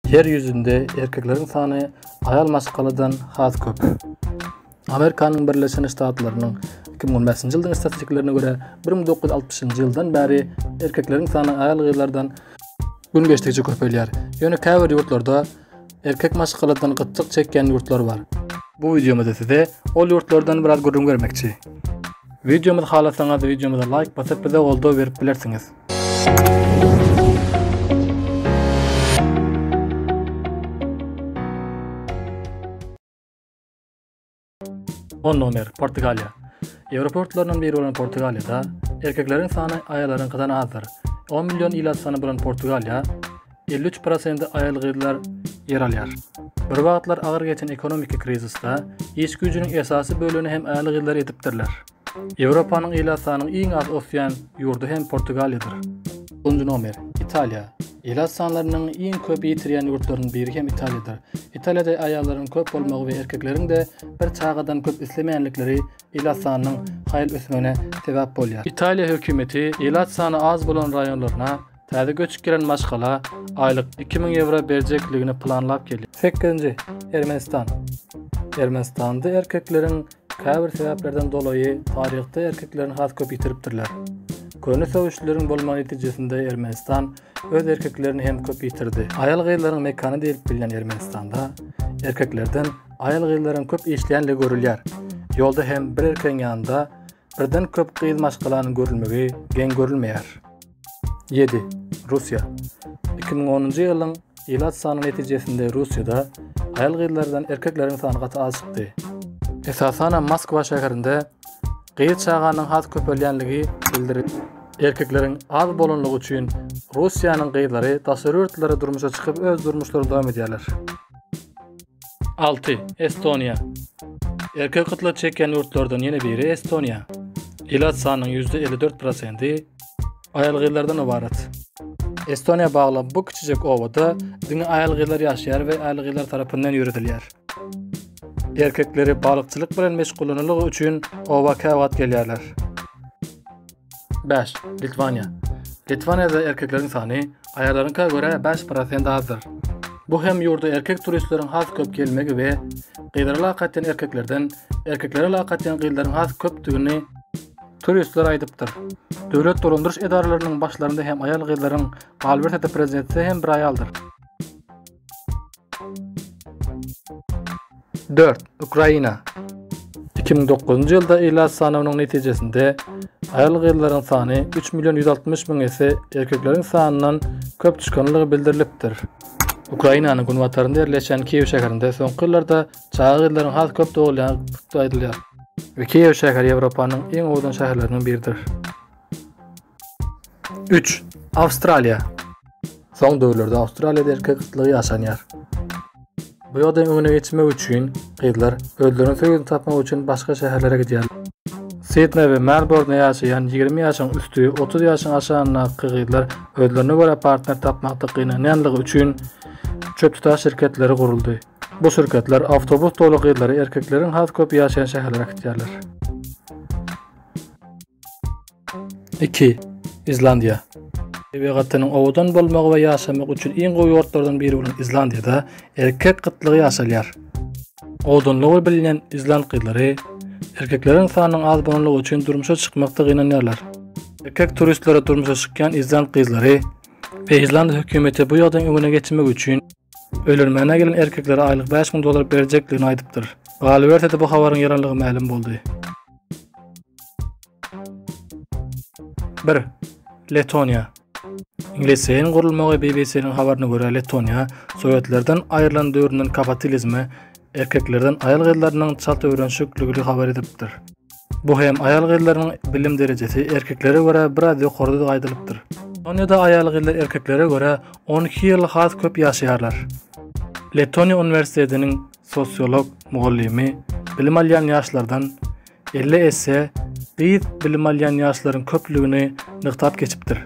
Ýer ýüzünde erkekleriň sany aýal maşgaladan has köp. Amerikanyň Birleşen Ştatlarynyň 2015-nji ýylyň statistikalarına görä, 1960-njy ýyldan bäri erkekleriň sany aýal-gyzlardan gün geçdikçe köpelýär. Ýöne käbir ýurtlarda erkek maşgaladan gytçylyk çekýän ýurtlar bar. Bu wideomyzda size ol ýurtlardan biraz gürrüň bermekçi. Wideomyzy halasaňyz, wideomyza laýk basyp, bize goldaw berip bilersiňiz. On nomer Portugaliýa. Ýewropa ýurtlaryndan biri bolan Portugaliýada erkekleriň sany aýalaryňkydan azdyr. 10 million ila sany bolan Portugaliýa 53% aýal-gyzlar ýer alýar. Bir wagtlar agyr geçen ekonomiki krizisde iş güýjüniň esasy bölegini hem aýal-gyzlar edipdirler. Ýewropanyň ilat sanynyň iň az ösýän ýurdy hem Portugaliýadyr. Nji nomer, Italiýa. Ilat sanlarynyň iň köp ýitirýän ýurtlarynyň biri hem Italiýadyr. Italiýada aýallaryň köp bolmagy we erkekleriň-de bir çagadan köp islemeýänlikleri ilat sanynyň haýal ösmegine sebäp bolýar. Italiýa hökümeti ilat sany az bolan raýonlaryna Täze göçüp gelen maşgala aýlyk iki müň ýewro berjekligini planlap gelýär. Sekizinji, Ermenistan. Ermenistanda erkekleriň käbir sebäplerden dolaýy taryhda erkeklerini has köp ýitiripdirler. Köne söweşleriň bolmagy netijesinde Ermenistan öz erkeklerini hem köp ýitirdi. Aýal-gyzlaryň mekany diýlip bilinen Ermenistanda erkeklerden aýal-gyzlaryň köp işleýänligi görülýär. Ýolda hem bir erkegiň ýanynda birden köp gyz maşgalanyň görülmegi geň görülmeýär. Ýedi, Russiýa. Iki müň onunjy ýylyň ilat sanyny netijesinde Russiýada aýal-gyzlardan erkekleriň sany gaty az çykdy. Esasanam Moskwa şäherinde gyz çaganyň has köpelýänligi bildirildi. Erkekleriň az bolanlygy üçin Russiýanyň gyzlary daşary ýurtlara durmuşa çykyp öz durmuşlaryny dowam edýärler. 6. Estoniýa Erkek gytla çekýän ýurtlardan ýene biri Estoniýa. Ilat sanynyň %54%-i aýal-gyzlardan ybarat. Estoniýa bagly bu kiçijek obada diňe aýal-gyzlar ýaşaýar we aýal-gyzlar tarapyndan ýöredilýär. Erkekleri balykçylyk bilen meşgullananlygy üçin oba käwagt gelýärler. 5. Litwaniýa. Litwaniýada erkekleriň sany aýallaryňka görä 5% azdyr. Bu hem ýurda erkek turistleriň has köp gelmegi we gyzlara lakat eden erkeklerden erkeklere lakat eden gyzlaryň has köpdügini turistler aýdypdyr. Döwlet dolandyryş edaralarynyň başlarynda hem aýal-gyzlaryň, galyberse-de prezidentde hem bir aýaldyr. Dört, Ukraina. 2009-njy ýylda ilat sanawynyň netijesinde aýal-gyzlaryň sany 3 million 160 müň esse erkekleriň sanyndan köp çykanlygy bildirilipdir. Ukrainanyň günbatarynda ýerleşýän Kiýew şäherinde soňky ýyllarda çaga gyzlaryň has köp dogulýandygy aýdylýar we Kiýew şäheri Ýewropanyň iň owadan şäherleriniň biridir. Üç, Awstraliýa. Soň döwürlerde Awstraliýada erkek gytlygy ýaşanýar. Bu ýagdaýyň öňüne geçmek üçin gyzlar özleriniň söýgüsini tapmak üçin başga şäherlere gidýärler. Sidneý we Melbournda ýaşaýan ýigrimi ýaşyň üsti, otuz ýaşyň aşagyndaky gyzlar özlerine görä partner tapmakda gynanýanlygy üçin çöptutan şirketleri guruldy. Bu şirketler awtobus doly gyzlary erkekleriň has köp ýaşaýan şäherlere äkitýärler. Iki. Islandiýa. Tebigatynyň owadan bolmagy we ýaşamak üçin iň gowy ýurtlardan biri bolan Islandiýada erkek gytlygy ýaşalýar. Owadanlygy bilinen island gyzlary erkekleriň sanynyň az bolanlygy üçin durmuşa çykmakda gynanýarlar. Erkek turistlere durmuşa çykýan island gyzlary we island hökümeti bu ýagdaýyň öňüne geçmek üçin öýlenmäne gelen erkeklere aýlyk bäş müň dollar berjekdigini aýdypdyr. Galyberse-de bu habaryň ýalanlygy mälim boldy. Bir, Letoniýa. Ingliziýaň gurulmagy BBC-niň habaryna görä Letoniýa Sowetlerden aýrylan döwründen kapatilizme, erkeklerden aýal-gyzlarynyň çalt öwrenişikligini habar edipdir. Bu hem aýal-gyzlaryň bilim derejesi erkeklere görä biraz ýokarydygy aýdylypdyr. Letoniýada aýal-gyzlar erkeklere görä on iki ýyl has köp ýaşaýarlar. Letoniýa uniwersitetiniň sosiolog mugallymy bilim alýan ýaşlardan elli esse gyz bilim alýan ýaşlaryň köplügini nygtap geçipdir.